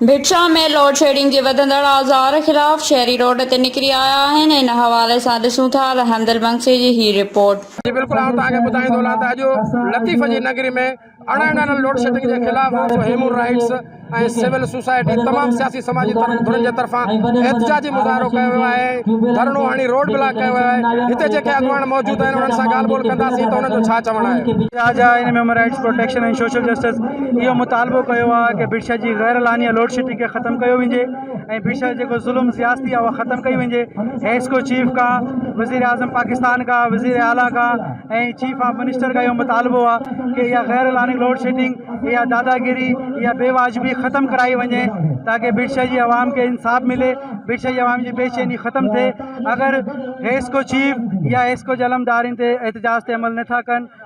Bhit Shah ۾ load shedding جي وڌندڙ آزار خلاف شهري روڊ تي نڪري آيا آهن، ان حوالي سان ڏسون ٿا ته حمدل بنگسي جي هي رپورٽ. جي بلڪل آئون توهان کي ٻڌائيندو هلان ته اڄ لطيف جي نگري ۾ اڻهنڊل لوڊشيڊنگ جي خلاف ويو هيومن رائيٽس ۽ سول سوسائٽي تمام سياسي سماجي ڌرين جي طرفان احتجاجي مظاهرو ڪيو ويو آهي ۽ ڌرڻو هڻي روڊ بلاڪ ڪيو ويو آهي هتي جيڪي اڳواڻ موجود آهن انهن سان ڳالهه ٻولهه ڪنداسين ته انهن جو ڇا چوڻ آهي. جا جا ان human rights protection ۽ social justice اهو مطالبو ڪيو آهي ته بير شاهه جي غير اعلانيه لوڊ شيڊنگ کي ختم ڪيو وڃي ۽ بير شاهه جيڪو ظلم سياستي آهي اها ختم ڪئي وڃي هيسڪو چيف کان وزير اعظم پاڪستان کان وزير اعليٰ کان ۽ چيف آف منسٽر کان اهو مطالبو آهي ته اها غير اعلاني لوڊ شيڊنگ اها داداگيري اها بي واجبي ختم ڪرائي وڃي تاڪي بير شاهه جي عوام کي انصاف ملي بير شاهه جي عوام جي بي چيني ختم ٿئي اگر هيسڪو چيف يا هيسڪو جي علمدارين تي احتجاج تي عمل نٿا ڪن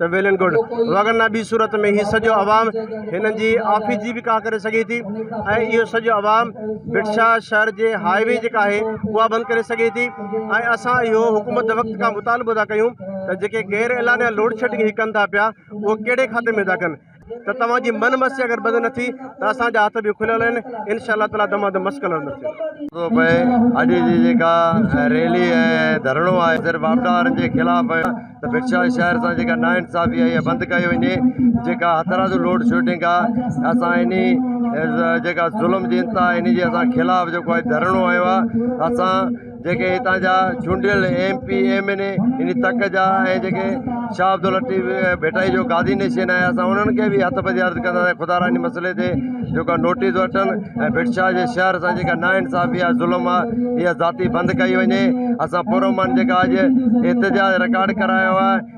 ته ويلن گڊ وگرنا ٻي صورت ۾ هي سڄو عوام هنن جي آفيس جي به ڪاهه ڪري سگهي ٿي ۽ اهو سڄو عوام بٽشاهه شهر جي هاء وي جيڪا آهي اها بند ڪري سگهي ٿي ۽ اسان اهو حڪومت وقت کان مطالبو ٿا ڪيون ته جيڪي غير اعلانيا لوڊشيڊنگ هي ڪن ٿا پيا اهو ڪهڙي کاتي ۾ ٿا ڪن ته توهان جي من مسي اگر بند نه ٿي ته اسان جا هٿ به کليل آهن انشاء الله تعالي دما دم مشڪل هلندڙ ٿيندو پئي اڄ جي جيڪا ريلي ۽ ڌرڻو آهي سر واپڊا وارن جي خلاف ته بٽشاهه شهر سان جيڪا نا انصافي آهي اها بند ڪئي وڃي جيڪا هٿراز جو لوڊ شوٽنگ آهي اسان اني جيڪا ظلم جي انتها اني جي اسان خلاف جيڪو آهي ڌرڻو هنيو آهي اسان جيڪي هتان جا چونڊيل M P M N A ان تڪ جا ۽ جيڪي شاهه عبداللطيف ڀٽائي جو گادي نشين آهي اسان انهن کي به هٿ ٻڌي عرض ڪندا سان خدا را ان مسئلي تي جيڪا نوٽيس وٺن ۽ ڀٽ شاهه جي شهر سان جيڪا نا انصافي آهي ظلم آهي اها ذاتي بند ڪئي وڃي اسان پرامن جيڪا اڄ احتجاج رڪارڊ ڪرايو آهي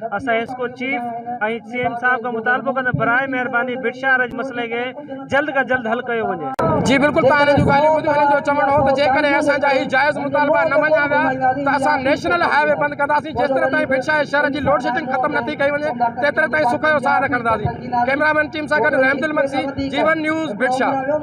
اسان حسڪو چيف ۽ سي ايم صاحب کان مطالبو ڪنداسين براء مهرباني ڀٽ شاهه رج مسئلي کي جلد کان جلد حل ڪيو وڃي. جي بلڪل ته هنن جون ڳالهيون ٻڌيون هنن جو چوڻ هو ته جيڪڏهن اسان جا هي جائز مطالبا نه مڃيا ويا ته اسان نيشنل هاء وي بند ڪنداسين جيستري تائين ڀٽ شاهه شهر جي لوڊ شيڊنگ ختم نٿي ڪئي وڃي تيتري تائين سک جو ساهه نه کڻنداسين ڪئميرا مين ٽيم سان گڏ رحمدل مگسي جي ون نيوز ڀٽ شاهه.